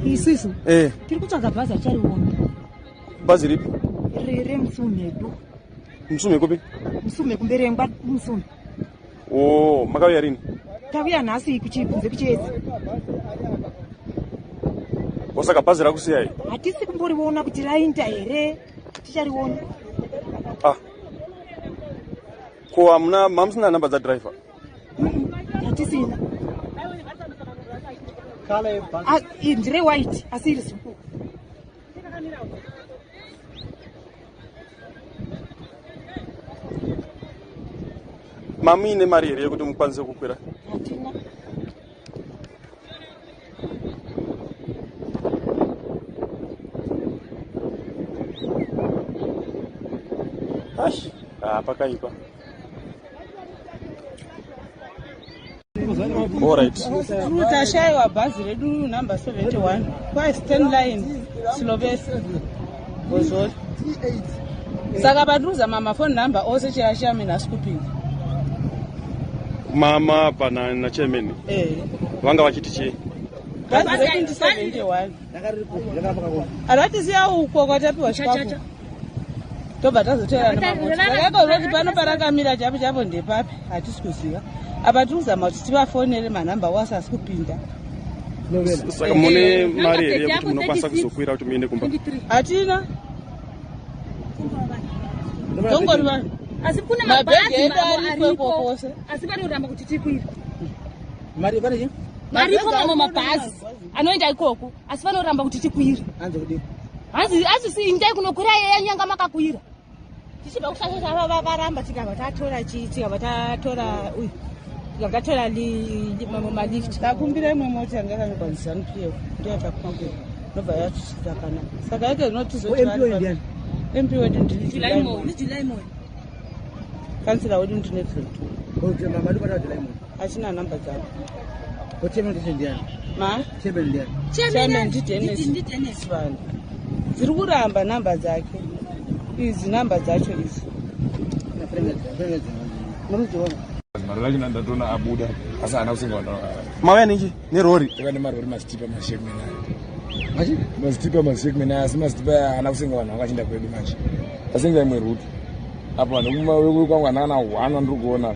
isisu eh. tiri kutsvaga bhazi achariona bhazi ripi remusumhedu musume kupi musume kumberengwa musume o oh, makauya rini tauya nhasi kuchikunze kuchiedzi osaka bhazi rakusiyai hatisi kumboriona kuti rainda here tichariona ah ko hamuna mamusina nhamba dzadriver hatisina ah, ndire white asi iri zuku mamuine mari here yekuti mukwanise kukwira Ash, ah, pakaipa. Tashaiwa bhazi redu number 71 kwa Stan Line Slovesi Bozoli. Saka patruza mama phone number ose chiyashaya mina asikupinda. Mama pana na chairman. Eh. Vanga vachiti chii? Bhazi redu ndi 71. aratisiya uko kwatapiwa chikafu tobva tazoteeranaakaizoti pano parakamira chapo chapo ndepapi hatisi kuziva apa tiri kuzama kuti tivafonere manhamba wasi asi kupinda saka mune mari here yekuti munokwanisa kuzokwira kuti muende kumba hatina dongori vanhu asi kune mabhegi edu ariko iko kwose asi vari kuramba kuti tikwira mari pane chii maripo mamwe mabhazi anoenda ikoko asi vanoramba kuti tikwire hanzi hanzi si indai kunokwira yeya nyanga makakwira tichibva kusasa chava varamba tikabva tatora chii tikabva tatora uyu tikabva tatora mamwe malift takumbira imwe mota yanga yakangokwanisa zanu pf ndo yatakumakwira nobva yatusvika kana saka yake zinotizoemployed ndini kansila wedu ndine 22 okay mama ndikwatawa dilaimoni achina number dzavo chairman ndidenis vanhu dziri kuramba number dzake izi number dzacho izi murudziona mari lacho nandatoona abuda asi haana kusingaona mauya ninji nerori iva nemarori masitipa mashekmena masitipa mashekmena asi masitipa haana kusinga vanhu vanga chinda kwedu manje asinga imwe ruti apa vanhu kwangu hanakana hwana ndiri kuona